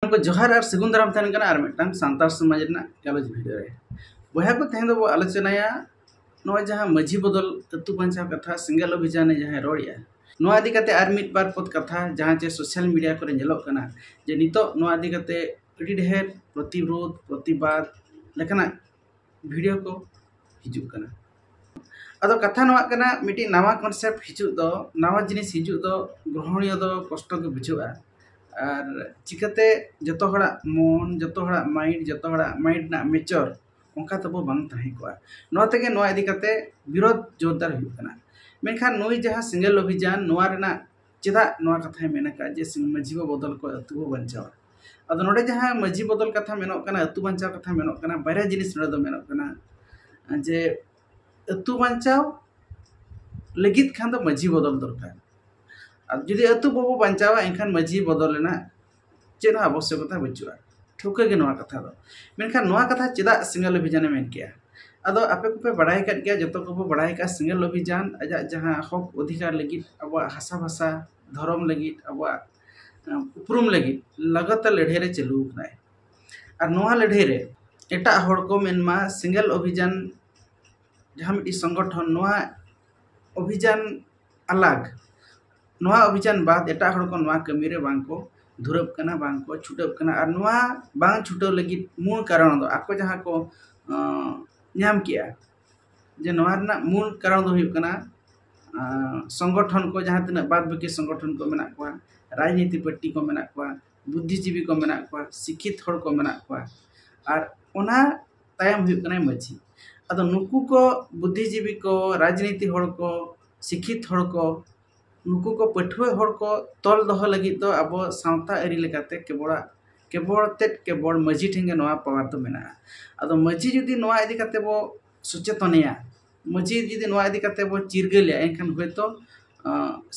ᱠᱚ ᱡᱚᱦᱟᱨ ᱟᱨ ᱥᱟᱹᱜᱩᱱ ᱫᱟᱨᱟᱢ ᱛᱟᱦᱮᱱ ᱠᱟᱱᱟ ᱟᱨ ᱢᱤᱫᱴᱟᱝ ᱥᱟᱱᱛᱟᱲ ᱥᱚᱢᱟᱡᱽ ᱨᱮᱱᱟᱜ ᱜᱟᱞᱚᱪ ᱵᱷᱤᱰᱭᱳ ᱨᱮ ᱵᱚᱭᱦᱟ ᱠᱚ ᱛᱮᱦᱮᱧ ᱫᱚᱵᱚ ᱟᱞᱳᱪᱚᱱᱟᱭᱟ ᱱᱚᱜᱼᱚᱭ ᱡᱟᱦᱟᱸ ᱢᱟᱹᱡᱷᱤ ᱵᱚᱫᱚᱞ ᱟᱹᱛᱩ ᱵᱟᱧᱪᱟᱣ ᱠᱟᱛᱷᱟ ᱥᱮᱸᱜᱮᱞ ᱚᱵᱷᱤᱡᱟᱱᱮ ᱡᱟᱦᱟᱸᱭ ᱨᱚᱲᱮᱜᱼᱟ ᱱᱚᱣᱟ ᱤᱫᱤ ᱠᱟᱛᱮ ᱟᱨ ᱢᱤᱫ ᱵᱟᱨ ᱯᱚᱫ ᱠᱟᱛᱷᱟ ᱡᱟᱦᱟᱸ ᱪᱮ ᱥᱳᱥᱟᱞ ᱢᱤᱰᱤᱭᱟ ᱠᱚᱨᱮ ᱧᱮᱞᱚᱜ ᱠᱟᱱᱟ ᱡᱮ ᱱᱤᱛᱚᱜ ᱱᱚᱣᱟ ᱤᱫᱤ ᱠᱟᱛᱮ ᱟᱹᱰᱤ ᱰᱷᱮᱨ ᱯᱨᱚᱛᱤᱨᱳᱫᱷ ᱯᱨᱚᱛᱤᱵᱟᱫᱽ ᱞᱮᱠᱟᱱᱟᱜ ᱵᱷᱤᱰᱤᱭᱳ ᱠᱚ ᱦᱤᱡᱩᱜ ᱠᱟᱱᱟ ᱟᱫᱚ ᱠᱟᱛᱷᱟ ᱱᱚᱣᱟ ᱠᱟᱱᱟ ᱢᱤᱫᱴᱤᱡ ᱱᱟᱣᱟ ᱠᱚᱱᱥᱮᱯᱴ ᱦᱤᱡᱩᱜ ᱫᱚ ᱱᱟᱣᱟ ᱡᱤᱱᱤᱥ ᱦᱤᱡᱩᱜ ᱫᱚ ᱜᱨᱚᱦᱚᱱᱤᱭᱚ ᱫᱚ ᱠᱚᱥᱴᱚ ᱜᱮ ᱵᱩᱡᱷᱟᱹᱜᱼᱟ ᱟᱨ ᱪᱤᱠᱟᱹᱛᱮ ᱡᱚᱛᱚ ᱦᱚᱲᱟᱜ ᱢᱚᱱ ᱡᱚᱛᱚ ᱦᱚᱲᱟᱜ ᱢᱟᱭᱤᱱᱰ ᱡᱚᱛᱚ ᱦᱚᱲᱟᱜ ᱢᱟᱭᱤᱱᱰ ᱨᱮᱱᱟᱜ ᱢᱮᱪᱚᱨ ᱚᱱᱠᱟ ᱛᱟᱵᱚ ᱵᱟᱝ ᱛᱟᱦᱮᱸ ᱠᱚᱜᱼᱟ ᱱᱚᱣᱟ ᱛᱮᱜᱮ ᱱᱚᱣᱟ ᱤᱫᱤ ᱠᱟᱛᱮ ᱵᱤᱨᱳᱫᱷ ᱡᱳᱨᱫᱟᱨ ᱦᱩᱭᱩᱜ ᱠᱟᱱᱟ ᱢᱮᱱᱠᱷᱟᱱ ᱱᱩᱭ ᱡᱟᱦᱟᱸ ᱥᱮᱸᱜᱮᱞ ᱚᱵᱷᱤᱡᱟᱱ ᱱᱚᱣᱟ ᱨᱮᱱᱟᱜ ᱪᱮᱫᱟᱜ ᱱᱚᱣᱟ ᱠᱟᱛᱷᱟᱭ ᱢᱮᱱ ᱟᱠᱟᱫᱼᱟ ᱡᱮ ᱢᱟᱺᱡᱷᱤ ᱵᱟᱵᱟ ᱵᱚᱫᱚᱞ ᱠᱚᱜᱼᱟᱭ ᱟᱛᱳ ᱦᱚᱸ ᱵᱟᱧᱪᱟᱣᱜᱼᱟ ᱟᱫᱚ ᱱᱚᱰᱮ ᱡᱟᱦᱟᱸ ᱢᱟᱺᱡᱷᱤ ᱵᱚᱫᱚᱞ ᱠᱟᱛᱷᱟ ᱢᱮᱱᱚᱜ ᱠᱟᱱᱟ ᱟᱛᱳ ᱵᱟᱧᱪᱟᱣ ᱠᱟᱛᱷᱟ ᱢᱮᱱᱚᱜ ᱠᱟᱱᱟ ᱵᱟᱨᱭᱟ ᱡᱤᱱᱤᱥ ᱱᱚᱰᱮ ᱫᱚ ᱢᱮᱱᱚᱜ ᱠᱟᱱᱟ ᱡᱮ ᱟᱛᱳ ᱵᱟᱧᱪᱟᱣ ᱞᱟᱹᱜᱤᱫ ᱠᱷᱟᱱ ᱫᱚ ᱢᱟᱺᱡᱷᱤ ᱵᱚᱫᱚᱞ ᱫᱚᱨᱠᱟᱨ ᱟᱨ ᱡᱩᱫᱤ ᱟᱛᱳ ᱵᱟᱵᱚ ᱵᱟᱧᱪᱟᱣᱟ ᱮᱱᱠᱷᱟᱱ ᱢᱟᱺᱡᱷᱤ ᱵᱚᱫᱚᱞ ᱨᱮᱱᱟᱜ ᱪᱮᱫ ᱦᱚᱸ ᱟᱵᱚᱥᱥᱚᱠᱚᱛᱟ ᱵᱟᱹᱪᱩᱜᱼᱟ ᱴᱷᱟᱹᱣᱠᱟᱹ ᱜᱮ ᱱᱚᱣᱟ ᱠᱟᱛᱷᱟ ᱫᱚ ᱢᱮᱱᱠᱷᱟᱱ ᱱᱚᱣᱟ ᱠᱟᱛᱷᱟ ᱪᱮᱫᱟᱜ ᱥᱤᱸᱜᱮᱞ ᱚᱵᱷᱤᱡᱟᱱᱮ ᱢᱮᱱ ᱠᱮᱜᱼᱟ ᱟᱫᱚ ᱟᱯᱮ ᱠᱚᱯᱮ ᱵᱟᱲᱟᱭ ᱠᱟᱜ ᱜᱮᱭᱟ ᱡᱚᱛᱚ ᱠᱚᱵᱚ ᱵᱟᱲᱟᱭ ᱠᱟᱜᱼᱟ ᱥᱤᱸᱜᱮᱞ ᱚᱵᱷᱤᱡᱟᱱ ᱟᱡᱟᱜ ᱡᱟᱦᱟᱸ ᱦᱚᱸᱠ ᱚᱫᱷᱤᱠᱟᱨ ᱞᱟᱹᱜᱤᱫ ᱟᱵᱚᱣᱟᱜ ᱦᱟᱥᱟ ᱵᱷᱟᱥᱟ ᱫᱷᱚᱨᱚᱢ ᱞᱟᱹᱜᱤᱫ ᱟᱵᱚᱣᱟᱜ ᱩᱯᱨᱩᱢ ᱞᱟᱹᱜᱤᱫ ᱞᱟᱜᱟᱛᱟᱨ ᱞᱟᱹᱲᱦᱟᱹᱭ ᱨᱮ ᱪᱟᱹᱞᱩ ᱠᱟᱱᱟᱭ ᱟᱨ ᱱᱚᱣᱟ ᱞᱟᱹᱲᱦᱟᱹᱭ ᱨᱮ ᱮᱴᱟᱜ ᱦᱚᱲ ᱠᱚ ᱢᱮᱱᱢᱟ ᱥᱤᱸᱜᱮᱞ ᱚᱵᱷᱤᱡᱟᱱ ᱡᱟᱦᱟᱸ ᱢᱤᱫᱴᱤᱡ ᱥᱚᱝᱜᱚᱴᱷᱚᱱ ᱱᱚᱣᱟ ᱚᱵᱷᱤᱡᱟᱱ ᱟᱞᱟᱜᱽ ᱱᱚᱣᱟ ᱚᱵᱷᱤᱡᱟᱱ ᱵᱟᱫ ᱮᱴᱟᱜ ᱦᱚᱲ ᱠᱚ ᱱᱚᱣᱟ ᱠᱟᱹᱢᱤ ᱨᱮ ᱵᱟᱝ ᱠᱚ ᱫᱷᱩᱨᱟᱹᱜ ᱠᱟᱱᱟ ᱵᱟᱝ ᱠᱚ ᱪᱷᱩᱴᱟᱹᱜ ᱠᱟᱱᱟ ᱟᱨ ᱱᱚᱣᱟ ᱵᱟᱝ ᱪᱷᱩᱴᱟᱹᱣ ᱞᱟᱹᱜᱤᱫ ᱢᱩᱞ ᱠᱟᱨᱚᱱ ᱫᱚ ᱟᱠᱚ ᱡᱟᱦᱟᱸ ᱠᱚ ᱧᱟᱢ ᱠᱮᱜᱼᱟ ᱡᱮ ᱱᱚᱣᱟ ᱨᱮᱱᱟᱜ ᱢᱩᱞ ᱠᱟᱨᱚᱱ ᱫᱚ ᱦᱩᱭᱩᱜ ᱠᱟᱱᱟ ᱥᱚᱝᱜᱚᱴᱷᱚᱱ ᱠᱚ ᱡᱟᱦᱟᱸ ᱛᱤᱱᱟᱹᱜ ᱵᱟᱫ ᱵᱟᱹᱠᱤ ᱥᱚᱝᱜᱚᱴᱷᱚᱱ ᱠᱚ ᱢᱮᱱᱟᱜ ᱠᱚᱣᱟ ᱨᱟᱡᱽᱱᱤᱛᱤ ᱯᱟᱨᱴᱤ ᱠᱚ ᱢᱮᱱᱟᱜ ᱠᱚᱣᱟ ᱵᱩᱫᱽᱫᱷᱤ ᱡᱤᱵᱤ ᱠᱚ ᱢᱮᱱᱟᱜ ᱠᱚᱣᱟ ᱥᱤᱠᱠᱷᱤᱛ ᱦᱚᱲ ᱠᱚ ᱢᱮᱱᱟᱜ ᱠᱚᱣᱟ ᱟᱨ ᱚᱱᱟ ᱛᱟᱭᱚᱢ ᱦᱩᱭᱩᱜ ᱠᱟᱱᱟᱭ ᱢᱟᱹᱡᱷᱤ ᱟᱫᱚ ᱱᱩᱠᱩ ᱠᱚ ᱵᱩᱫᱷᱤ ᱡᱤᱵᱤ ᱠᱚ ᱨᱟᱡᱽᱱᱤᱛᱤ ᱦᱚᱲ ᱠᱚ ᱥᱤᱠᱠᱷᱤᱛ ᱦᱚᱲ ᱠᱚ ᱱᱩᱠᱩ ᱠᱚ ᱯᱟᱹᱴᱷᱩᱣᱟᱹ ᱦᱚᱲ ᱠᱚ ᱛᱚᱞ ᱫᱚᱦᱚ ᱞᱟᱹᱜᱤᱫ ᱫᱚ ᱟᱵᱚ ᱥᱟᱶᱛᱟ ᱟᱹᱨᱤ ᱞᱮᱠᱟᱛᱮ ᱠᱮᱵᱚᱲᱟᱜ ᱠᱮᱵᱚᱲ ᱛᱮᱫ ᱠᱮᱵᱚᱲ ᱢᱟᱹᱡᱷᱤ ᱴᱷᱮᱱ ᱜᱮ ᱱᱚᱣᱟ ᱯᱟᱣᱟᱨ ᱫᱚ ᱢᱮᱱᱟᱜᱼᱟ ᱟᱫᱚ ᱢᱟᱹᱡᱷᱤ ᱡᱩᱫᱤ ᱱᱚᱣᱟ ᱤᱫᱤ ᱠᱟᱛᱮᱫ ᱵᱚ ᱥᱚᱪᱮᱛᱚᱱᱮᱭᱟ ᱢᱟᱹᱡᱷᱤ ᱡᱩᱫᱤ ᱱᱚᱣᱟ ᱤᱫᱤ ᱠᱟᱛᱮᱫ ᱵᱚ ᱪᱤᱨᱜᱟᱹᱞᱮᱭᱟ ᱮᱱᱠᱷᱟᱱ ᱦᱳᱭᱛᱳ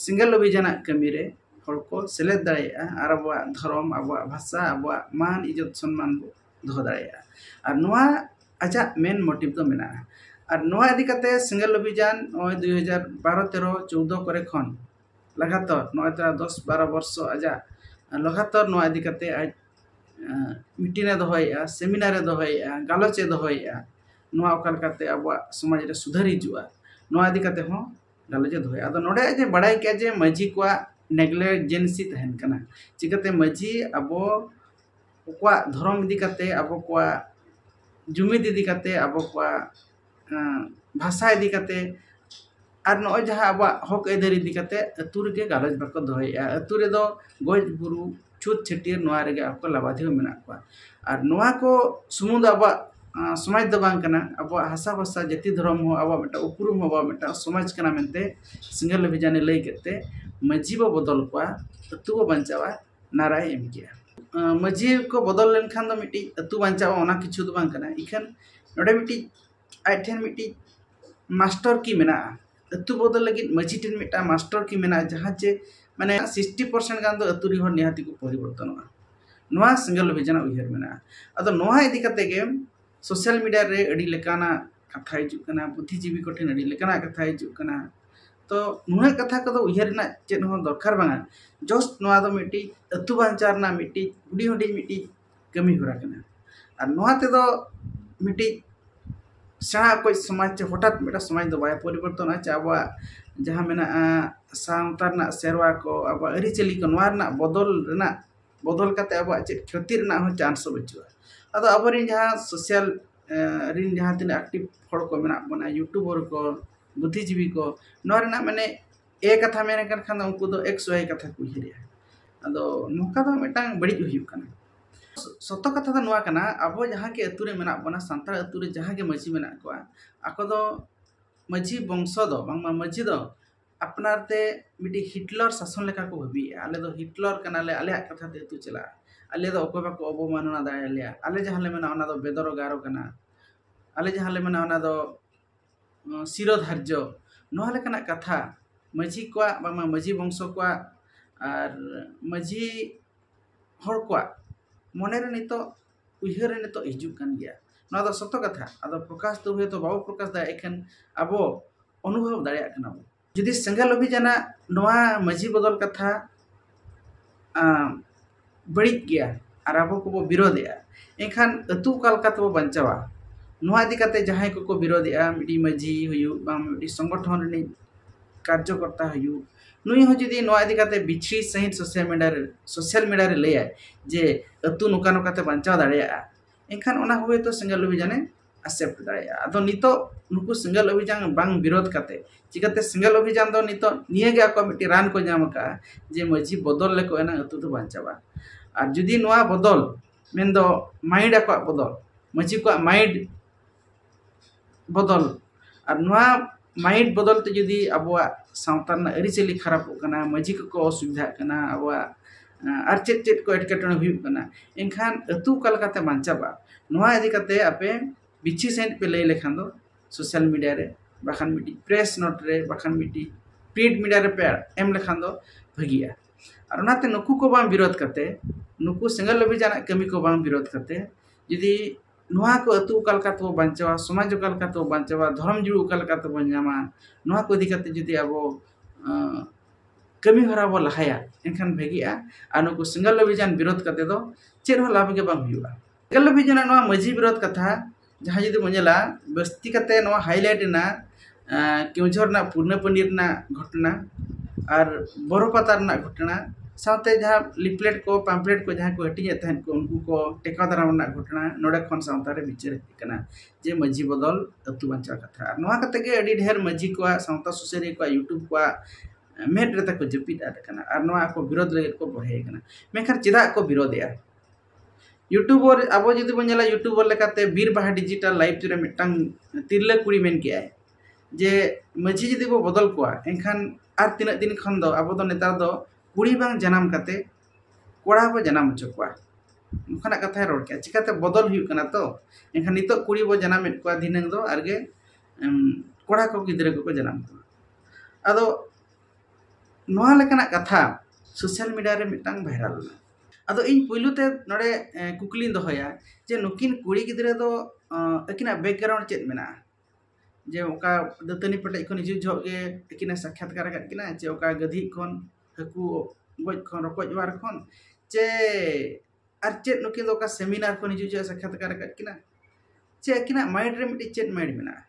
ᱥᱮᱸᱜᱮᱞ ᱚᱵᱷᱤᱡᱟᱱᱟᱜ ᱠᱟᱹᱢᱤ ᱨᱮ ᱦᱚᱲ ᱠᱚ ᱥᱮᱞᱮᱫ ᱫᱟᱲᱮᱭᱟᱜᱼᱟ ᱟᱨ ᱟᱵᱚᱣᱟᱜ ᱫᱷᱚᱨᱚᱢ ᱟᱵᱚᱣᱟᱜ ᱵᱷᱟᱥᱟ ᱟᱵᱚᱣᱟᱜ ᱢᱟᱹᱱ ᱤᱡᱽᱡᱚᱛ ᱥᱚᱱᱢᱟᱱ ᱵᱚ ᱫᱚᱦᱚ ᱫᱟᱲᱮᱭᱟᱜᱼᱟ ᱟᱨ ᱱᱚᱣᱟ ᱟᱡᱟᱜ ᱢᱮᱱ ᱢᱳᱴᱤᱵᱷ ᱫᱚ ᱢᱮᱱᱟᱜᱼᱟ ᱟᱨ ᱱᱚᱣᱟ ᱤᱫᱤ ᱠᱟᱛᱮ ᱥᱮᱸᱜᱮᱞ ᱚᱵᱷᱤᱡᱟᱱ ᱱᱚᱜᱼᱚᱭ ᱫᱩᱭ ᱦᱟᱡᱟᱨ ᱵᱟᱨᱚ ᱛᱮᱨᱚ ᱪᱳᱫᱫᱳ ᱠᱚᱨᱮ ᱠᱷᱚᱱ ᱞᱟᱜᱟᱛᱟᱨ ᱱᱚᱜᱼᱚᱭ ᱛᱚᱨᱟ ᱫᱚᱥ ᱵᱟᱨᱚ ᱵᱚᱨᱥᱚ ᱟᱡᱟᱜ ᱞᱟᱜᱟᱛᱟᱨ ᱱᱚᱣᱟ ᱤᱫᱤ ᱠᱟᱛᱮ ᱟᱡ ᱢᱤᱴᱤᱝ ᱮ ᱫᱚᱦᱚᱭᱮᱜᱼᱟ ᱥᱮᱢᱤᱱᱟᱨ ᱮ ᱫᱚᱦᱚᱭᱮᱜᱼᱟ ᱜᱟᱞᱚᱪ ᱮ ᱫᱚᱦᱚᱭᱮᱜᱼᱟ ᱱᱚᱣᱟ ᱚᱠᱟ ᱞᱮᱠᱟᱛᱮ ᱟᱵᱚᱣᱟᱜ ᱥᱚᱢᱟᱡᱽ ᱨᱮ ᱥᱩᱫᱷᱟᱹᱨ ᱦᱤᱡᱩᱜᱼᱟ ᱱᱚᱣᱟ ᱤᱫᱤ ᱠᱟᱛᱮ ᱦᱚᱸ ᱜᱟᱞᱚᱪ ᱮ ᱫᱚᱦᱚᱭᱟ ᱟᱫᱚ ᱱᱚᱰᱮ ᱟᱡ ᱮ ᱵᱟᱲᱟᱭ ᱠᱮᱜᱼᱟ ᱡᱮ ᱢᱟᱹᱡᱷᱤ ᱠᱚᱣᱟᱜ ᱱᱮᱜᱽᱞᱮᱡᱮᱱᱥᱤ ᱛᱟᱦᱮᱱ ᱠᱟᱱᱟ ᱪᱤᱠᱟᱹᱛᱮ ᱢᱟᱹᱡᱷᱤ ᱟᱵᱚ ᱟᱠᱚᱣᱟᱜ ᱫᱷᱚᱨᱚᱢ ᱤᱫᱤ ᱠᱟᱛᱮ ᱟᱵᱚ ᱠᱚᱣᱟᱜ ᱡᱩᱢᱤᱫ ᱤᱫᱤ ᱠᱟᱛᱮ ᱟᱵᱚ ᱠᱚᱣᱟᱜ ᱵᱷᱟᱥᱟ ᱤᱫᱤ ᱠᱟᱛᱮ ᱟᱨ ᱱᱚᱜᱼᱚᱭ ᱡᱟᱦᱟᱸ ᱟᱵᱚᱣᱟᱜ ᱦᱚᱸᱠ ᱟᱹᱭᱫᱟᱹᱨᱤ ᱤᱫᱤ ᱠᱟᱛᱮ ᱟᱛᱳ ᱨᱮᱜᱮ ᱜᱟᱞᱚᱪ ᱫᱚᱠᱚ ᱫᱚᱦᱚᱭᱮᱜᱼᱟ ᱟᱛᱳ ᱨᱮᱫᱚ ᱜᱚᱡ ᱜᱩᱨᱩ ᱪᱷᱩᱛ ᱪᱷᱟᱹᱴᱭᱟᱹᱨ ᱱᱚᱣᱟ ᱨᱮᱜᱮ ᱟᱠᱚ ᱞᱟᱵᱟᱫᱷᱤ ᱨᱮ ᱢᱮᱱᱟᱜ ᱠᱚᱣᱟ ᱟᱨ ᱱᱚᱣᱟ ᱠᱚ ᱥᱩᱢᱩᱝ ᱫᱚ ᱟᱵᱚᱣᱟᱜ ᱥᱚᱢᱟᱡᱽ ᱫᱚ ᱵᱟᱝ ᱠᱟᱱᱟ ᱟᱵᱚᱣᱟᱜ ᱦᱟᱥᱟ ᱵᱷᱟᱥᱟ ᱡᱟᱹᱛᱤ ᱫᱷᱚᱨᱚᱢ ᱦᱚᱸ ᱟᱵᱚᱣᱟᱜ ᱢᱤᱫᱴᱟᱝ ᱩᱯᱨᱩᱢ ᱦᱚᱸ ᱟᱵᱚᱣᱟᱜ ᱢᱤᱫᱴᱟᱝ ᱥᱚᱢᱟᱡᱽ ᱠᱟᱱᱟ ᱢᱮᱱᱛᱮ ᱥᱤᱸᱜᱟᱹ ᱞᱟᱹᱵᱤᱡᱟᱱᱮ ᱞᱟᱹᱭ ᱠᱮᱫ ᱛᱮ ᱢᱟᱹᱡᱷᱤ ᱵᱚ ᱵᱚᱫᱚᱞ ᱠᱚᱣᱟ ᱟᱛᱳ ᱵᱚ ᱵᱟᱧᱪᱟᱣᱟ ᱱᱟᱨᱟᱭ ᱮᱢ ᱠᱮᱜᱼᱟ ᱢᱟᱹᱡᱷᱤ ᱠᱚ ᱵᱚᱫᱚᱞ ᱞᱮᱱᱠᱷᱟᱱ ᱫᱚ ᱢᱤᱫᱴᱤᱡ ᱟᱹᱛᱩ ᱵᱟᱧᱪᱟᱜᱼᱟ ᱚᱱᱟ ᱠᱤᱪᱷᱩ ᱫᱚ ᱵᱟᱝ ᱠᱟᱱᱟ ᱤᱠᱷᱟᱹᱱ ᱱᱚᱰᱮ ᱢᱤᱫᱴᱤᱡ ᱟᱡ ᱴᱷᱮᱱ ᱢᱤᱫᱴᱤᱡ ᱢᱟᱥᱴᱚᱨ ᱠᱤ ᱢᱮᱱᱟᱜᱼᱟ ᱟᱹᱛᱩ ᱵᱚᱫᱚᱞ ᱞᱟᱹᱜᱤᱫ ᱢᱟᱹᱡᱷᱤ ᱴᱷᱮᱱ ᱢᱤᱫᱴᱟᱝ ᱢᱟᱥᱴᱚᱨ ᱠᱤ ᱢᱮᱱᱟᱜᱼᱟ ᱡᱟᱦᱟᱸ ᱪᱮ ᱢᱟᱱᱮ ᱥᱤᱠᱥᱴᱤ ᱯᱟᱨᱥᱮᱱᱴ ᱜᱟᱱ ᱫᱚ ᱟᱹᱛᱩ ᱨᱮᱱ ᱦᱚᱲ ᱱᱤᱦᱟᱹᱛ ᱜᱮᱠᱚ ᱯᱚᱨᱤᱵᱚᱨᱛᱚᱱᱚᱜᱼᱟ ᱱᱚᱣᱟ ᱥᱤᱝᱜᱮᱞ ᱵᱷᱤᱡᱮᱱᱟᱜ ᱩᱭᱦᱟᱹᱨ ᱢᱮᱱᱟᱜᱼᱟ ᱟᱫᱚ ᱱᱚᱣᱟ ᱤᱫᱤ ᱠᱟᱛᱮᱫ ᱜᱮ ᱥᱳᱥᱟᱞ ᱢᱤᱰᱤᱭᱟ ᱨᱮ ᱟᱹᱰᱤ ᱞᱮᱠᱟᱱᱟᱜ ᱠᱟᱛᱷᱟ ᱦᱤᱡᱩᱜ ᱠᱟᱱᱟ ᱵᱩᱫᱽᱫᱷᱤ ᱡᱤᱵᱤ ᱠᱚᱴᱷᱮᱱ ᱟᱹᱰᱤ ᱞᱮᱠᱟᱱᱟᱜ ᱠᱟᱛᱷᱟ ᱦᱤᱡᱩᱜ ᱠᱟᱱᱟ ᱛᱚ ᱱᱩᱱᱟᱹᱜ ᱠᱟᱛᱷᱟ ᱠᱚᱫᱚ ᱩᱭᱦᱟᱹᱨ ᱨᱮᱱᱟᱜ ᱪᱮᱫ ᱦᱚᱸ ᱫᱚᱨᱠᱟᱨ ᱵᱟᱝᱟ ᱡᱟᱥᱴ ᱱᱚᱣᱟ ᱫᱚ ᱢᱤᱫᱴᱤᱡ ᱟᱛᱳ ᱵᱟᱧᱪᱟᱣ ᱨᱮᱱᱟᱜ ᱢᱤᱫᱴᱤᱡ ᱦᱩᱰᱤᱧ ᱦᱩᱰᱤᱧ ᱢᱤᱫᱴᱤᱡ ᱠᱟᱹᱢᱤ ᱦᱚᱨᱟ ᱠᱟᱱᱟ ᱟᱨ ᱱᱚᱣᱟ ᱛᱮᱫᱚ ᱢᱤᱫᱴᱤᱡ ᱥᱮᱬᱟ ᱚᱠᱚᱡ ᱥᱚᱢᱟᱡᱽ ᱪᱮ ᱦᱚᱴᱟᱛ ᱢᱤᱫᱴᱟᱝ ᱥᱚᱢᱟᱡᱽ ᱫᱚ ᱵᱟᱭ ᱯᱚᱨᱤᱵᱚᱨᱛᱚᱱᱚᱜᱼᱟ ᱪᱮ ᱟᱵᱚᱣᱟᱜ ᱡᱟᱦᱟᱸ ᱢᱮᱱᱟᱜᱼᱟ ᱥᱟᱶᱛᱟ ᱨᱮᱱᱟᱜ ᱥᱮᱨᱣᱟ ᱠᱚ ᱟᱵᱚᱣᱟᱜ ᱟᱹᱨᱤᱪᱟᱹᱞᱤ ᱠᱚ ᱱᱚᱣᱟ ᱨᱮᱱᱟᱜ ᱵᱚᱫᱚᱞ ᱨᱮᱱᱟᱜ ᱵᱚᱫᱚᱞ ᱠᱟᱛᱮ ᱟᱵᱚᱣᱟᱜ ᱪᱮᱫ ᱠᱷᱚᱛᱤ ᱨᱮᱱᱟᱜ ᱦᱚᱸ ᱪᱟᱱᱥ ᱦᱚᱸ ᱵᱟᱹᱪᱩᱜᱼᱟ ᱟᱫᱚ ᱟᱵᱚ ᱨᱮᱱ ᱡᱟᱦᱟᱸ ᱥᱳᱥᱟᱞ ᱨᱤᱱ ᱡᱟᱦᱟᱸ ᱛᱤᱱᱟᱹᱜ ᱮᱠᱴᱤᱵᱷ ᱦᱚᱲ ᱠᱚ ᱢᱮᱱᱟᱜ ᱵᱚᱱᱟ ᱤᱭᱩᱴᱩᱵᱟᱨ ᱠᱚ ᱵᱩᱫᱷᱤ ᱡᱤᱵᱤ ᱠᱚ ᱱᱚᱣᱟ ᱨᱮᱱᱟᱜ ᱢᱟᱱᱮ ᱮ ᱠᱟᱛᱷᱟ ᱢᱮᱱ ᱟᱠᱟᱱ ᱠᱷᱟᱱ ᱫᱚ ᱩᱱᱠᱩ ᱫᱚ ᱮᱠᱥ ᱚᱣᱟᱭ ᱠᱟᱛᱷᱟ ᱠᱚ ᱩᱭᱦᱟᱹᱨᱮᱜᱼᱟ ᱟᱫᱚ ᱱᱚᱝᱠᱟ ᱫᱚ ᱢᱤᱫᱴᱟᱝ ᱵᱟᱹᱲᱤᱡ ᱦᱩᱭᱩᱜ ᱠᱟᱱᱟ ᱥᱚᱛᱚ ᱠᱟᱛᱷᱟ ᱫᱚ ᱱᱚᱣᱟ ᱠᱟᱱᱟ ᱟᱵᱚ ᱡᱟᱦᱟᱸ ᱜᱮ ᱟᱛᱳ ᱨᱮ ᱢᱮᱱᱟᱜ ᱵᱚᱱᱟ ᱥᱟᱱᱛᱟᱲ ᱟᱛᱳ ᱨᱮ ᱡᱟᱦᱟᱸ ᱜᱮ ᱢᱟᱹᱡᱷᱤ ᱢᱮᱱᱟᱜ ᱠᱚᱣᱟ ᱟᱠᱚ ᱫᱚ ᱢᱟᱹᱡᱷᱤ ᱵᱚᱝᱥᱚ ᱫᱚ ᱵᱟᱝᱢᱟ ᱢᱟᱹᱡᱷᱤ ᱫᱚ ᱟᱯᱱᱟᱨ ᱛᱮ ᱢᱤᱫᱴᱤᱡ ᱦᱤᱴᱞᱟᱨ ᱥᱟᱥᱚᱱ ᱞᱮᱠᱟ ᱠᱚ ᱵᱷᱟᱹᱵᱤᱭᱮᱜᱼᱟ ᱟᱞᱮ ᱫᱚ ᱦᱤᱴᱞᱟᱨ ᱠᱟᱱᱟ ᱞᱮ ᱟᱞᱮᱭᱟᱜ ᱠᱟᱛᱷᱟ ᱛᱮ ᱟᱛᱳ ᱪᱟᱞᱟᱜᱼᱟ ᱟᱞᱮ ᱫᱚ ᱚᱠᱚᱭ ᱵᱟᱠᱚ ᱚᱵᱚᱢᱟᱱᱱᱟ ᱫᱟᱲᱮᱭᱟᱞᱮᱭᱟ ᱟᱞᱮ ᱡᱟᱦᱟᱸ ᱞᱮ ᱢᱮᱱᱟ ᱚᱱᱟ ᱫᱚ ᱵᱮᱫᱚᱨ ᱜᱟᱲᱚ ᱠᱟᱱᱟ ᱟᱞᱮ ᱡᱟᱦᱟᱸ ᱞᱮ ᱢᱮᱱᱟ ᱚᱱᱟ ᱫᱚ ᱥᱤᱨᱚ ᱫᱷᱟᱨᱡᱚ ᱱᱚᱣᱟ ᱞᱮᱠᱟᱱᱟᱜ ᱠᱟᱛᱷᱟ ᱢᱟᱹᱡᱷᱤ ᱠᱚᱣᱟᱜ ᱵᱟᱝᱢᱟ ᱢᱟᱹᱡᱷᱤ ᱵᱚᱝᱥᱚ ᱠᱚᱣᱟᱜ ᱟᱨ ᱢᱟᱹᱡᱷᱤ ᱦᱚᱲ ᱠᱚᱣᱟᱜ ᱢᱚᱱᱮ ᱨᱮ ᱱᱤᱛᱚᱜ ᱩᱭᱦᱟᱹᱨ ᱨᱮ ᱱᱤᱛᱚᱜ ᱦᱤᱡᱩᱜ ᱠᱟᱱ ᱜᱮᱭᱟ ᱱᱚᱣᱟ ᱫᱚ ᱥᱚᱛᱚ ᱠᱟᱛᱷᱟ ᱟᱫᱚ ᱯᱨᱚᱠᱟᱥ ᱫᱚ ᱦᱳᱭᱛᱳ ᱵᱟᱵᱚ ᱯᱨᱚᱠᱟᱥ ᱫᱟᱲᱮᱭᱟᱜᱼᱟ ᱮᱠᱷᱟᱱ ᱟᱵᱚ ᱚᱱᱩᱵᱷᱚᱵ ᱫᱟᱲᱮᱭᱟᱜ ᱠᱟᱱᱟ ᱵᱚᱱ ᱡᱩᱫᱤ ᱥᱮᱸᱜᱮᱞ ᱚᱵᱷᱤᱡᱟᱱᱟᱜ ᱱᱚᱣᱟ ᱢᱟᱹᱡᱷᱤ ᱵᱚᱫᱚᱞ ᱠᱟᱛᱷᱟ ᱵᱟᱹᱲᱤᱡ ᱜᱮᱭᱟ ᱟᱨ ᱟᱵᱚ ᱠᱚᱵᱚ ᱵᱤᱨᱳᱫᱮᱜᱼᱟ ᱮᱱᱠᱷᱟᱱ ᱟᱹᱛᱩ ᱚᱠᱟ ᱞᱮᱠᱟ ᱛᱮᱵᱚ ᱵᱟᱧᱪᱟᱣᱟ ᱱᱚᱣᱟ ᱤᱫᱤ ᱠᱟᱛᱮ ᱡᱟᱦᱟᱸᱭ ᱠᱚᱠᱚ ᱵᱤᱨᱳᱫᱮᱜᱼᱟ ᱢᱤᱫᱴᱤᱡ ᱢᱟᱹᱡᱷᱤ ᱦᱩᱭᱩᱜ ᱵᱟᱝ ᱢᱤᱫᱴᱤᱡ ᱥᱚᱝᱜᱚᱴᱷᱚᱱ ᱨᱤᱱᱤᱡ ᱠᱟᱨᱡᱚᱠᱚᱨᱛᱟ ᱦᱩᱭᱩᱜ ᱱᱩᱭ ᱦᱚᱸ ᱡᱩᱫᱤ ᱱᱚᱣᱟ ᱤᱫᱤ ᱠᱟᱛᱮ ᱵᱤᱪᱷᱤ ᱥᱟᱺᱦᱤᱡ ᱥᱳᱥᱟᱞ ᱢᱤᱰᱤᱭᱟ ᱨᱮ ᱥᱳᱥᱟᱞ ᱢᱤᱰᱤᱭᱟ ᱨᱮ ᱞᱟᱹᱭᱟᱭ ᱡᱮ ᱟᱹᱛᱩ ᱱᱚᱝᱠᱟ ᱱᱚᱝᱠᱟ ᱛᱮ ᱵᱟᱧᱪᱟᱣ ᱫᱟᱲᱮᱭᱟᱜᱼᱟ ᱮᱱᱠᱷᱟᱱ ᱚᱱᱟ ᱠᱚᱜᱮ ᱛᱚ ᱥᱮᱸᱜᱮᱞ ᱚᱵᱷᱤᱡᱟᱱᱮ ᱟᱥᱮᱯᱴ ᱫᱟᱲᱮᱭᱟᱜᱼᱟ ᱟᱫᱚ ᱱᱤᱛᱚᱜ ᱱᱩᱠᱩ ᱥᱮᱸᱜᱮᱞ ᱚᱵᱷᱤᱡᱟᱱ ᱵᱟᱝ ᱵᱤᱨᱳᱫᱷ ᱠᱟᱛᱮᱫ ᱪᱤᱠᱟᱹᱛᱮ ᱥᱮᱸᱜᱮᱞ ᱚᱵᱷᱤᱡᱟᱱ ᱫᱚ ᱱᱤᱛᱚᱜ ᱱᱤᱭᱟᱹ ᱜᱮ ᱟᱠᱚᱣᱟᱜ ᱢᱤᱫᱴᱮᱱ ᱨᱟᱱ ᱠᱚ ᱧᱟᱢ ᱠᱟᱜᱼᱟ ᱡᱮ ᱢᱟᱹᱡᱷᱤ ᱵᱚᱫᱚᱞ ᱞᱮᱠᱚ ᱮᱱᱟᱝ ᱟᱛᱳ ᱫᱚ ᱵᱟᱝ ᱪᱟᱵᱟᱜᱼᱟ ᱟᱨ ᱡᱩᱫᱤ ᱱᱚᱣᱟ ᱵᱚᱫᱚᱞ ᱢᱮᱱᱫᱚ ᱢᱟᱭᱤᱱᱰ ᱟᱠᱚᱣᱟᱜ ᱵᱚᱫᱚᱞ ᱢᱟᱹᱡᱷᱤ ᱠᱚᱣᱟᱜ ᱢᱟᱭᱤᱱᱰ ᱵᱚᱫᱚᱞ ᱟᱨ ᱱᱚᱣᱟ ᱢᱟᱭᱤᱱᱰ ᱵᱚᱫᱚᱞ ᱛᱮ ᱡᱩᱫᱤ ᱟᱵᱚᱣᱟᱜ ᱥᱟᱶᱛᱟ ᱨᱮᱱᱟᱜ ᱟᱹᱨᱤᱪᱟᱹᱞᱤ ᱠᱷᱟᱨᱟᱯᱚᱜ ᱠᱟᱱᱟ ᱢᱟᱹᱡᱷᱤ ᱠᱚᱠᱚ ᱚᱥᱩᱵᱤᱫᱷᱟᱜ ᱠᱟᱱᱟ ᱟᱵᱚᱣᱟᱜ ᱟᱨ ᱪᱮᱫ ᱪᱮᱫ ᱠᱚ ᱮᱴᱠᱮᱴᱚᱬᱮ ᱦᱩᱭᱩᱜ ᱠᱟᱱᱟ ᱮᱱᱠᱷᱟᱱ ᱟᱛᱳ ᱚᱠᱟ ᱞᱮᱠᱟᱛᱮ ᱵᱟᱧᱪᱟᱜᱼᱟ ᱱᱚᱣᱟ ᱤᱫᱤ ᱠᱟᱛᱮ ᱟᱯᱮ ᱵᱤᱪᱷᱤ ᱥᱟᱺᱦᱤᱡ ᱯᱮ ᱞᱟᱹᱭ ᱞᱮᱠᱷᱟᱱ ᱫᱚ ᱥᱳᱥᱟᱞ ᱢᱤᱰᱤᱭᱟ ᱨᱮ ᱵᱟᱠᱷᱟᱱ ᱢᱤᱫᱴᱤᱡ ᱯᱨᱮᱥ ᱱᱳᱴ ᱨᱮ ᱵᱟᱠᱷᱟᱱ ᱢᱤᱫᱴᱤᱡ ᱯᱨᱤᱱᱴ ᱢᱤᱰᱤᱭᱟ ᱨᱮᱯᱮ ᱮᱢ ᱞᱮᱠᱷᱟᱱ ᱫᱚ ᱵᱷᱟᱹᱜᱤᱜᱼᱟ ᱟᱨ ᱚᱱᱟᱛᱮ ᱱᱩᱠᱩ ᱠᱚ ᱵᱟᱝ ᱵᱤᱨᱳᱫᱷ ᱠᱟᱛᱮ ᱱᱩᱠᱩ ᱥᱮᱸᱜᱮᱞ ᱚᱵᱷᱤᱡᱟᱱᱟᱜ ᱠᱟᱹᱢᱤ ᱠᱚ ᱵᱟᱝ ᱵᱤᱨᱳᱫᱷ ᱠᱟᱛᱮ ᱡᱩᱫᱤ ᱱᱚᱣᱟ ᱠᱚ ᱟᱹᱛᱩ ᱚᱠᱟ ᱞᱮᱠᱟ ᱛᱮᱵᱚᱱ ᱵᱟᱧᱪᱟᱣᱟ ᱥᱚᱢᱟᱡᱽ ᱚᱠᱟ ᱞᱮᱠᱟ ᱛᱮᱵᱚᱱ ᱵᱟᱧᱪᱟᱣᱟ ᱫᱷᱚᱨᱚᱢ ᱡᱤᱭᱟᱹᱲ ᱚᱠᱟ ᱞᱮᱠᱟ ᱛᱮᱵᱚᱱ ᱧᱟᱢᱟ ᱱᱚᱣᱟ ᱠᱚ ᱤᱫᱤ ᱠᱟᱛᱮᱫ ᱡᱩᱫᱤ ᱟᱵᱚ ᱠᱟᱹᱢᱤᱦᱚᱨᱟ ᱵᱚᱱ ᱞᱟᱦᱟᱭᱟ ᱮᱱᱠᱷᱟᱱ ᱵᱷᱟᱹᱜᱤᱜᱼᱟ ᱟᱨ ᱱᱩᱠᱩ ᱥᱤᱝᱜᱮᱞ ᱰᱤᱵᱷᱤᱡᱮᱱ ᱵᱤᱨᱳᱫᱷ ᱠᱟᱛᱮᱫ ᱫᱚ ᱪᱮᱫ ᱦᱚᱸ ᱞᱟᱵᱷ ᱜᱮ ᱵᱟᱝ ᱦᱩᱭᱩᱜᱼᱟ ᱥᱤᱝᱜᱮᱞ ᱰᱤᱵᱷᱤᱡᱮᱱ ᱟᱜ ᱱᱚᱣᱟ ᱢᱟᱹᱡᱷᱤ ᱵᱤᱨᱳᱫᱷ ᱠᱟᱛᱷᱟ ᱡᱟᱦᱟᱸᱭ ᱡᱩᱫᱤ ᱵᱚᱱ ᱧᱮᱞᱟ ᱡᱟᱹᱥᱛᱤ ᱠᱟᱛᱮᱫ ᱱᱚᱣᱟ ᱦᱟᱭᱞᱟᱭᱤᱴ ᱮᱱᱟ ᱠᱮᱣᱡᱷᱳᱨ ᱨᱮᱱᱟᱜ ᱯᱩᱨᱱᱟᱹ ᱯᱟᱺᱰᱤ ᱨᱮᱱᱟᱜ ᱜᱷᱚᱴᱚᱱᱟ ᱟᱨ ᱵᱳᱨᱳ ᱯᱟᱛᱟ ᱨᱮᱱᱟᱜ ᱜᱷᱚᱴᱚᱱᱟ ᱥᱟᱶᱛᱮ ᱡᱟᱦᱟᱸ ᱞᱤᱯᱷᱞᱮᱴ ᱠᱚ ᱯᱟᱢᱯᱞᱮᱴ ᱠᱚ ᱡᱟᱦᱟᱸᱭ ᱠᱚ ᱦᱟᱹᱴᱤᱧᱮᱫ ᱛᱟᱦᱮᱸᱫ ᱠᱚ ᱩᱱᱠᱩ ᱠᱚ ᱴᱮᱠᱟᱣ ᱫᱟᱨᱟᱢ ᱨᱮᱱᱟᱜ ᱜᱷᱚᱴᱚᱱᱟ ᱱᱚᱰᱮ ᱠᱷᱚᱱ ᱥᱟᱶᱛᱟ ᱨᱮ ᱵᱤᱪᱟᱹᱨ ᱦᱮᱡ ᱠᱟᱱᱟ ᱡᱮ ᱢᱟᱹᱡᱷᱤ ᱵᱚᱫᱚᱞ ᱟᱛᱳ ᱵᱟᱧᱪᱟᱣ ᱠᱟᱛᱷᱟ ᱟᱨ ᱱᱚᱣᱟ ᱠᱟᱛᱮᱫ ᱜᱮ ᱟᱹᱰᱤ ᱰᱷᱮᱨ ᱢᱟᱹᱡᱷᱤ ᱠᱚᱣᱟᱜ ᱥᱟᱶᱛᱟ ᱥᱩᱥᱟᱹᱨᱤᱭᱟᱹ ᱠᱚᱣᱟᱜ ᱤᱭᱩᱴᱩᱵᱽ ᱠᱚᱣᱟᱜ ᱢᱮᱫ ᱨᱮᱛᱟ ᱠᱚ ᱡᱟᱹᱯᱤᱫ ᱟᱫ ᱠᱟᱱᱟ ᱟᱨ ᱱᱚᱣᱟ ᱠᱚ ᱵᱤᱨᱳᱫᱷ ᱞᱟᱹᱜᱤᱫ ᱠᱚ ᱵᱚᱲᱦᱮ ᱠᱟᱱᱟ ᱢᱮᱱᱠᱷᱟᱱ ᱪᱮᱫᱟᱜ ᱠᱚ ᱵᱤᱨᱳᱫᱷᱮᱜᱼᱟ ᱤᱭᱩᱴᱩᱵᱚᱨ ᱟᱵᱚ ᱡᱩᱫᱤ ᱵᱚᱱ ᱧᱮᱞᱟ ᱤᱭᱩᱴᱩᱵᱚᱨ ᱞᱮᱠᱟᱛᱮ ᱵᱤᱨ ᱵᱟᱦᱟ ᱰᱤᱡᱤᱴᱟᱞ ᱞᱟᱭᱤᱵᱷ ᱨᱮ ᱢᱤᱫᱴᱟᱝ ᱛᱤᱨᱞᱟᱹ ᱠᱩᱲᱤ ᱢᱮᱱ ᱠᱮᱜᱼᱟᱭ ᱡᱮ ᱢᱟᱹᱡᱷᱤ ᱡᱩᱫᱤ ᱵᱚᱱ ᱵᱚᱫᱚᱞ ᱠᱚᱣᱟ ᱮᱱᱠᱷᱟᱱ ᱟᱨ ᱛᱤᱱᱟᱹᱜ ᱫᱤᱱ ᱠᱷᱚᱱ ᱫᱚ ᱟᱵᱚ ᱫᱚ ᱱᱮᱛᱟᱨ ᱫᱚ ᱠᱩᱲᱤ ᱵᱟᱝ ᱡᱟᱱᱟᱢ ᱠᱟᱛᱮ ᱠᱚᱲᱟ ᱵᱚᱱ ᱡᱟᱱᱟᱢ ᱦᱚᱪᱚ ᱠᱚᱣᱟ ᱚᱱᱠᱟᱱᱟᱜ ᱠᱟᱛᱷᱟᱭ ᱨᱚᱲ ᱠᱮᱜᱼᱟ ᱪᱤᱠᱟᱛᱮ ᱵᱚᱫᱚᱞ ᱦᱩᱭᱩᱜ ᱠᱟᱱᱟ ᱛᱚ ᱮᱱᱠᱷᱟᱱ ᱱᱤᱛᱚᱜ ᱠᱩᱲᱤ ᱵᱚᱱ ᱡᱟᱱᱟᱢᱮᱜ ᱠᱚᱣᱟ ᱫᱷᱤᱱᱟᱹᱝ ᱫᱚ ᱟᱨᱜᱮ ᱠᱚᱲᱟ ᱠᱚ ᱜᱤᱫᱽᱨᱟᱹ ᱠᱚᱠᱚ ᱡᱟᱱᱟᱢ ᱠᱚᱣᱟ ᱟᱫᱚ ᱱᱚᱣᱟ ᱞᱮᱠᱟᱱᱟᱜ ᱠᱟᱛᱷᱟ ᱥᱳᱥᱟᱞ ᱢᱤᱰᱤᱭᱟ ᱨᱮ ᱢᱤᱫᱴᱟᱝ ᱵᱷᱟᱭᱨᱟᱞ ᱮᱱᱟ ᱟᱫᱚ ᱤᱧ ᱯᱩᱭᱞᱩ ᱛᱮ ᱱᱚᱰᱮ ᱠᱩᱠᱞᱤᱧ ᱫᱚᱦᱚᱭᱟ ᱡᱮ ᱱᱩᱠᱤᱱ ᱠᱩᱲᱤ ᱜᱤᱫᱽᱨᱟᱹ ᱫᱚ ᱟᱹᱠᱤᱱᱟᱜ ᱵᱮᱠᱜᱨᱟᱣᱩᱱᱰ ᱪᱮᱫ ᱢᱮᱱᱟᱜᱼᱟ ᱡᱮ ᱚᱠᱟ ᱫᱟᱹᱛᱟᱹᱱᱤ ᱯᱮᱴᱮᱡ ᱠᱷᱚᱱ ᱦᱤᱡᱩᱜ ᱡᱚᱦᱚᱜ ᱜᱮ ᱟᱹᱠᱤᱱᱮ ᱥᱟᱠᱠᱷᱟᱛᱠᱟᱨ ᱟᱠᱟᱫ ᱠᱤᱱᱟ ᱪᱮ ᱚᱠᱟ ᱜᱟᱹᱫᱷᱤ ᱠᱷᱚᱱ ᱦᱟᱹᱠᱩ ᱜᱚᱡ ᱠᱷᱚᱱ ᱨᱚᱠᱚᱡ ᱚᱣᱟᱨ ᱠᱷᱚᱱ ᱪᱮ ᱟᱨ ᱪᱮᱫ ᱱᱩᱠᱤᱱ ᱫᱚ ᱚᱠᱟ ᱥᱮᱢᱤᱱᱟᱨ ᱠᱷᱚᱱ ᱦᱤᱡᱩᱜ ᱡᱚᱦᱚᱜ ᱮ ᱥᱟᱠᱠᱷᱟᱛᱠᱟᱨ ᱟᱠᱟᱫ ᱠᱤᱱᱟ ᱪᱮ ᱟᱹᱠᱤᱱᱟᱜ ᱢᱟᱭᱤᱱᱰ ᱨᱮ ᱢᱤᱫᱴᱤᱡ ᱪᱮᱫ ᱢᱟᱭᱤᱱᱰ ᱢᱮᱱᱟᱜᱼᱟ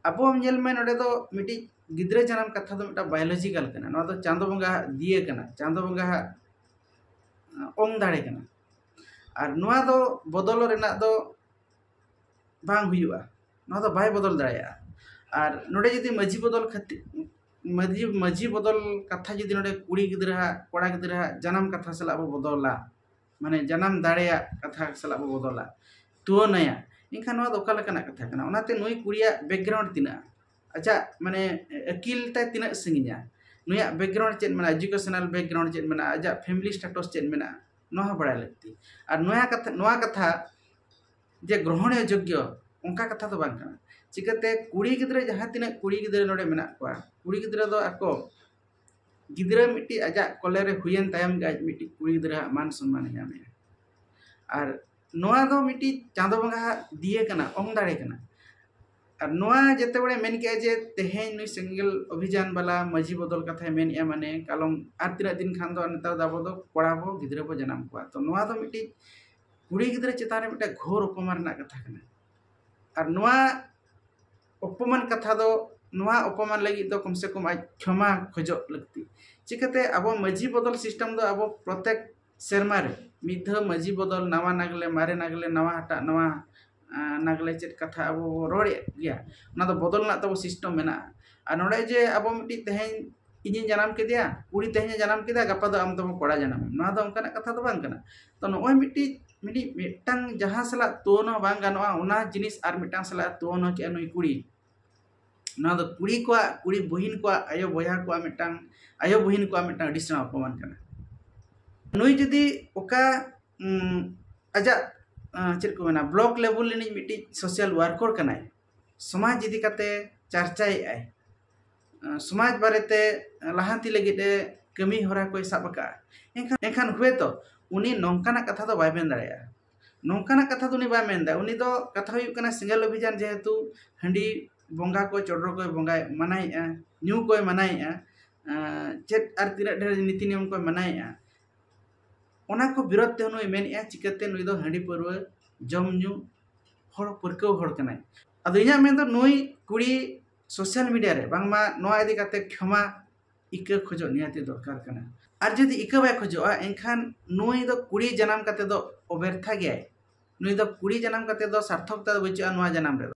ᱟᱵᱚ ᱧᱮᱞ ᱢᱮ ᱱᱚᱰᱮ ᱫᱚ ᱢᱤᱫᱴᱤᱡ ᱜᱤᱫᱽᱨᱟᱹ ᱡᱟᱱᱟᱢ ᱠᱟᱛᱷᱟ ᱫᱚ ᱢᱤᱫᱴᱟᱝ ᱵᱟᱭᱳᱞᱚᱡᱤᱠᱟᱞ ᱠᱟᱱᱟ ᱱᱚᱣᱟ ᱫᱚ ᱪᱟᱸᱫᱚ ᱵᱚᱸᱜᱟ ᱟᱜ ᱫᱤᱭᱟᱹ ᱠᱟᱱᱟ ᱪᱟᱸᱫᱚ ᱵᱚᱸᱜᱟ ᱟᱜ ᱚᱝ ᱫᱟᱲᱮ ᱠᱟᱱᱟ ᱟᱨ ᱱᱚᱣᱟ ᱫᱚ ᱵᱚᱫᱚᱞ ᱨᱮᱱᱟᱜ ᱫᱚ ᱵᱟᱝ ᱦᱩᱭᱩᱜᱼᱟ ᱱᱚᱣᱟ ᱫᱚ ᱵᱟᱭ ᱵᱚᱫᱚᱞ ᱫᱟᱲᱮᱭᱟᱜᱼᱟ ᱟᱨ ᱱᱚᱰᱮ ᱡᱩᱫᱤ ᱢᱟᱹᱡᱷᱤ ᱵᱚᱫᱚᱞ ᱠᱷᱟᱹᱛᱤᱨ ᱢᱟᱹᱡᱷᱤ ᱢᱟᱹᱡᱷᱤ ᱵᱚᱫᱚᱞ ᱠᱟᱛᱷᱟ ᱡᱩᱫᱤ ᱱᱚᱰᱮ ᱠᱩᱲᱤ ᱜᱤᱫᱽᱨᱟᱹ ᱟᱜ ᱠᱚᱲᱟ ᱜᱤᱫᱽᱨᱟᱹ ᱟᱜ ᱡᱟᱱᱟᱢ ᱠᱟᱛᱷᱟ ᱥᱟᱞᱟᱜ ᱵᱚ ᱵᱚᱫᱚᱞᱟ ᱢᱟᱱᱮ ᱡᱟᱱᱟᱢ ᱫᱟᱲᱮᱭᱟᱜ ᱠᱟᱛᱷᱟ ᱥᱟᱞᱟᱜ ᱵᱚ ᱵᱚᱫᱚᱞᱟ ᱛᱩᱣᱟᱹᱱᱟᱭᱟ ᱮᱱᱠᱷᱟᱱ ᱱᱚᱣᱟ ᱫᱚ ᱚᱠᱟ ᱞᱮᱠᱟᱱᱟᱜ ᱠᱟᱛᱷᱟ ᱠᱟᱱᱟ ᱚᱱᱟᱛᱮ ᱱᱩᱭ ᱠᱩᱲᱤᱭᱟᱜ ᱵᱮᱠᱜᱨᱟᱣᱩᱱᱰ ᱛᱤᱱᱟᱹᱜ ᱟᱡᱟᱜ ᱢᱟᱱᱮ ᱟᱹᱠᱤᱞ ᱛᱟᱭ ᱛᱤᱱᱟᱹᱜ ᱥᱟᱺᱜᱤᱧᱟ ᱱᱩᱭᱟᱜ ᱵᱮᱠᱜᱨᱟᱣᱩᱱᱰ ᱪᱮᱫ ᱢᱮᱱᱟᱜᱼᱟ ᱮᱰᱩᱠᱮᱥᱚᱱᱟᱞ ᱵᱮᱠᱜᱨᱟᱣᱩᱱᱰ ᱪᱮᱫ ᱢᱮᱱᱟᱜᱼᱟ ᱟᱡᱟᱜ ᱯᱷᱮᱢᱮᱞᱤ ᱥᱴᱮᱴᱚᱥ ᱪᱮᱫ ᱢᱮᱱᱟᱜᱼᱟ ᱱᱚᱣᱟ ᱦᱚᱸ ᱵᱟᱲᱟᱭ ᱞᱟᱹᱠᱛᱤ ᱟᱨ ᱱᱚᱣᱟ ᱠᱟᱛᱷᱟ ᱱᱚᱣᱟ ᱠᱟᱛᱷᱟ ᱡᱮ ᱜᱨᱚᱦᱚᱱᱤᱭᱚ ᱡᱳᱜᱽᱜᱚ ᱚᱱᱠᱟ ᱠᱟᱛᱷᱟ ᱫᱚ ᱵᱟᱝ ᱠᱟᱱᱟ ᱪᱤᱠᱟᱹᱛᱮ ᱠᱩᱲᱤ ᱜᱤᱫᱽᱨᱟᱹ ᱡᱟᱦᱟᱸ ᱛᱤᱱᱟᱹᱜ ᱠᱩᱲᱤ ᱜᱤᱫᱽᱨᱟᱹ ᱱᱚᱰᱮ ᱢᱮᱱᱟᱜ ᱠᱚᱣᱟ ᱠᱩᱲᱤ ᱜᱤᱫᱽᱨᱟᱹ ᱫᱚ ᱟᱠᱚ ᱜᱤᱫᱽᱨᱟᱹ ᱢᱤᱫᱴᱤᱡ ᱟᱡᱟᱜ ᱠᱚᱞᱮ ᱨᱮ ᱦᱩᱭᱮᱱ ᱛᱟᱭᱚᱢ ᱜᱮ ᱟᱡ ᱢᱤᱫᱴᱤᱡ ᱠᱩᱲᱤ ᱜᱤᱫᱽᱨᱟᱹ ᱟᱜ ᱢᱟᱱ ᱥᱚᱱᱢᱟᱱᱮ ᱧᱟᱢᱮᱜᱼᱟ ᱟᱨ ᱱᱚᱣᱟ ᱫᱚ ᱢᱤᱫᱴᱤᱡ ᱪᱟᱸᱫᱚ ᱵᱚᱸᱜᱟ ᱟᱜ ᱫᱤᱭᱟᱹ ᱠᱟᱱᱟ ᱚᱝ ᱫᱟᱲᱮ ᱠᱟᱱᱟ ᱟᱨ ᱱᱚᱣᱟ ᱡᱮᱛᱮ ᱦᱚᱲᱮ ᱢᱮᱱ ᱠᱮᱜᱼᱟ ᱡᱮ ᱛᱮᱦᱮᱧ ᱱᱩᱭ ᱥᱮᱸᱜᱮᱞ ᱚᱵᱷᱤᱡᱟᱱ ᱵᱟᱞᱟ ᱢᱟᱹᱡᱷᱤ ᱵᱚᱫᱚᱞ ᱠᱟᱛᱷᱟᱭ ᱢᱮᱱᱮᱜᱼᱟ ᱢᱟᱱᱮ ᱠᱟᱞᱚᱢ ᱟᱨ ᱛᱤᱱᱟᱹᱜ ᱫᱤᱱ ᱠᱷᱟᱱ ᱫᱚ ᱱᱮᱛᱟᱨ ᱫᱚ ᱟᱵᱚ ᱫᱚ ᱠᱚᱲᱟ ᱵᱚ ᱜᱤᱫᱽᱨᱟᱹ ᱵᱚ ᱡᱟᱱᱟᱢ ᱠᱚᱣᱟ ᱛᱚ ᱱᱚᱣᱟ ᱫᱚ ᱢᱤᱫᱴᱤᱡ ᱠᱩᱲᱤ ᱜᱤᱫᱽᱨᱟᱹ ᱪᱮᱛᱟᱱ ᱨᱮ ᱢᱤᱫᱴᱮᱡ ᱜᱷᱳᱨ ᱚᱯᱚᱢᱟᱱ ᱨᱮᱱᱟᱜ ᱠᱟᱛᱷᱟ ᱠᱟᱱᱟ ᱟᱨ ᱱᱚᱣᱟ ᱚᱯᱚᱢᱟᱱ ᱠᱟᱛᱷᱟ ᱫᱚ ᱱᱚᱣᱟ ᱚᱯᱚᱢᱟᱱ ᱞᱟᱹᱜᱤᱫ ᱫᱚ ᱠᱚᱢ ᱥᱮ ᱠᱚᱢ ᱟᱡ ᱠᱷᱮᱢᱟ ᱠᱷᱚᱡᱚᱜ ᱞᱟᱹᱠᱛᱤ ᱪᱤᱠᱟᱹᱛᱮ ᱟᱵᱚ ᱢᱟᱹᱡᱷᱤ ᱵᱚᱫᱚᱞ ᱥᱤᱥᱴᱮᱢ ᱫᱚ ᱟᱵᱚ ᱯᱨᱚᱛᱮᱠ ᱥᱮᱨᱢᱟ ᱨᱮ ᱢᱤᱫ ᱫᱷᱟᱹᱣ ᱢᱟᱹᱡᱷᱤ ᱵᱚᱫᱚᱞ ᱱᱟᱣᱟ ᱱᱟᱜᱽᱞᱮ ᱢᱟᱨᱮ ᱱᱟᱜᱽᱞᱮ ᱱᱟᱣᱟ ᱦᱟᱴᱟᱜ ᱱᱟᱣᱟ ᱱᱟᱜᱽᱞᱮ ᱪᱮᱫ ᱠᱟᱛᱷᱟ ᱟᱵᱚ ᱵᱚ ᱨᱚᱲᱮᱫ ᱜᱮᱭᱟ ᱚᱱᱟ ᱫᱚ ᱵᱚᱫᱚᱞ ᱨᱮᱱᱟᱜ ᱛᱟᱵᱚ ᱥᱤᱥᱴᱮᱢ ᱢᱮᱱᱟᱜᱼᱟ ᱟᱨ ᱱᱚᱰᱮ ᱡᱮ ᱟᱵᱚ ᱢᱤᱫᱴᱤᱡ ᱛᱮᱦᱮᱧ ᱤᱧᱤᱧ ᱡᱟᱱᱟᱢ ᱠᱮᱫᱮᱭᱟ ᱠᱩᱲᱤ ᱛᱮᱦᱮᱧᱮ ᱡᱟᱱᱟᱢ ᱠᱮᱫᱮᱭᱟ ᱜᱟᱯᱟ ᱫᱚ ᱟᱢ ᱫᱚ ᱠᱚᱲᱟ ᱡᱟᱱᱟᱢᱮᱱ ᱱᱚᱣᱟ ᱫᱚ ᱚᱱᱠᱟᱱᱟᱜ ᱠᱟᱛᱷᱟ ᱫᱚ ᱵᱟᱝ ᱠᱟᱱᱟ ᱛᱚ ᱱᱚᱜᱼᱚᱭ ᱢᱤᱫᱴᱤᱡ ᱢᱤᱫᱴᱤᱡ ᱢᱤᱫᱴᱟᱝ ᱡᱟᱦᱟᱸ ᱥᱟᱞᱟᱜ ᱛᱩᱞᱚᱱᱟ ᱵᱟᱝ ᱜᱟᱱᱚᱜᱼᱟ ᱚᱱᱟ ᱡᱤᱱᱤᱥ ᱟᱨ ᱢᱤᱫᱴᱟᱝ ᱥᱟᱞᱟᱜ ᱛᱩᱞᱚᱱᱟ ᱠᱮᱜᱼᱟ ᱱᱩᱭ ᱠᱩᱲᱤ ᱱᱚᱣᱟ ᱫᱚ ᱠᱩᱲᱤ ᱠᱚᱣᱟᱜ ᱠᱩᱲᱤ ᱵᱩᱦᱤᱱ ᱠᱚᱣᱟᱜ ᱟᱭᱳ ᱵᱚᱭᱦᱟ ᱠᱚᱣᱟᱜ ᱢᱤᱫᱴᱟᱝ ᱟᱭᱳ ᱵᱩᱦᱤᱱ ᱠᱚᱣᱟᱜ ᱢᱤᱫᱴᱟᱝ ᱟᱹᱰᱤ ᱥᱮᱬᱟ ᱚᱯᱚᱢᱟᱱ ᱠᱟᱱᱟ ᱱᱩᱭ ᱡᱩᱫᱤ ᱚᱠᱟ ᱟᱡᱟᱜ ᱪᱮᱫ ᱠᱚ ᱢᱮᱱᱟ ᱵᱞᱚᱠ ᱞᱮᱵᱮᱞ ᱨᱤᱱᱤᱡ ᱢᱤᱫᱴᱤᱡ ᱥᱳᱥᱟᱞ ᱳᱣᱟᱨᱠᱚᱨ ᱠᱟᱱᱟᱭ ᱥᱚᱢᱟᱡᱽ ᱤᱫᱤ ᱠᱟᱛᱮ ᱪᱟᱨᱪᱟᱭᱮᱜᱼᱟᱭ ᱥᱚᱢᱟᱡᱽ ᱵᱟᱨᱮᱛᱮ ᱞᱟᱦᱟᱱᱛᱤ ᱞᱟᱹᱜᱤᱫ ᱮ ᱠᱟᱹᱢᱤ ᱦᱚᱨᱟ ᱠᱚᱭ ᱥᱟᱵ ᱟᱠᱟᱫᱼᱟ ᱮᱱᱠᱷᱟᱱ ᱮᱱᱠᱷᱟᱱ ᱦᱳᱭᱛᱳ ᱩᱱᱤ ᱱᱚᱝᱠᱟᱱᱟᱜ ᱠᱟᱛᱷᱟ ᱫᱚ ᱵᱟᱭ ᱢᱮᱱ ᱫᱟᱲᱮᱭᱟᱜᱼᱟ ᱱᱚᱝᱠᱟᱱᱟᱜ ᱠᱟᱛᱷᱟ ᱫᱚ ᱩᱱᱤ ᱵᱟᱭ ᱢᱮᱱ ᱫᱟᱲᱮᱭᱟᱜᱼᱟ ᱩᱱᱤ ᱫᱚ ᱠᱟᱛᱷᱟ ᱦᱩᱭᱩᱜ ᱠᱟᱱᱟ ᱥᱮᱸᱜᱮᱞ ᱚᱵᱷᱤᱡᱟᱱ ᱡᱮᱦᱮᱛᱩ ᱦᱟᱺᱰᱤ ᱵᱚᱸᱜᱟ ᱠᱚ ᱪᱚᱰᱚᱨ ᱠᱚᱭ ᱵᱚᱸᱜᱟᱭ ᱢᱟᱱᱟᱭᱮᱫᱼᱟ ᱧᱩ ᱠᱚᱭ ᱢᱟᱱᱟᱭᱮᱫᱼᱟ ᱪᱮᱫ ᱟᱨ ᱛᱤᱱᱟᱹᱜ ᱰᱷᱮᱨ ᱱᱤᱛᱤ ᱱᱤᱭᱚᱢ ᱠᱚᱭ ᱢᱟᱱᱟᱭᱮᱫᱼᱟ ᱚᱱᱟ ᱠᱚ ᱵᱤᱨᱳᱫᱷ ᱛᱮ ᱱᱩᱭ ᱢᱮᱱᱮᱫᱼᱟ ᱪᱤᱠᱟᱹᱛᱮ ᱱᱩᱭ ᱫᱚ ᱦᱟᱺᱰᱤ ᱯᱟᱹᱣᱨᱟᱹ ᱡᱚᱢ ᱧᱩ ᱦᱚᱲ ᱯᱟᱹᱨᱠᱟᱹᱣ ᱦᱚᱲ ᱠᱟᱱᱟᱭ ᱟᱫᱚ ᱤᱧᱟᱹᱜ ᱢᱮᱱ ᱫᱚ ᱱᱩᱭ ᱠᱩᱲᱤ ᱥᱳᱥᱟᱞ ᱢᱤᱰᱤᱭᱟ ᱨᱮ ᱵᱟᱝᱢᱟ ᱱᱚᱣᱟ ᱤᱫᱤ ᱠᱟᱛᱮ ᱠᱷᱚᱢᱟ ᱤᱠᱟᱹ ᱠᱷᱚᱡᱚᱜ ᱱᱤᱦᱟᱹᱛᱤ ᱫᱚᱨᱠᱟᱨ ᱠᱟᱱᱟ ᱟᱨ ᱡᱩᱫᱤ ᱤᱠᱟᱹ ᱵᱟᱭ ᱠᱷᱚᱡᱚᱜᱼᱟ ᱮᱱᱠᱷᱟᱱ ᱱᱩᱭ ᱫᱚ ᱠᱩᱲᱤ ᱡᱟᱱᱟᱢ ᱠᱟᱛᱮ ᱫᱚ ᱚᱵᱮᱨᱛᱷᱟ ᱜᱮᱭᱟᱭ ᱱᱩᱭ ᱫᱚ ᱠᱩᱲᱤ ᱡᱟᱱᱟᱢ ᱠᱟᱛᱮ ᱫᱚ ᱥᱟᱨᱛᱷᱚᱠᱛᱟ ᱫᱚ ᱵᱟᱹᱪᱩᱜᱼᱟ ᱱᱚᱣᱟ ᱡᱟᱱᱟᱢ ᱨᱮᱫᱚ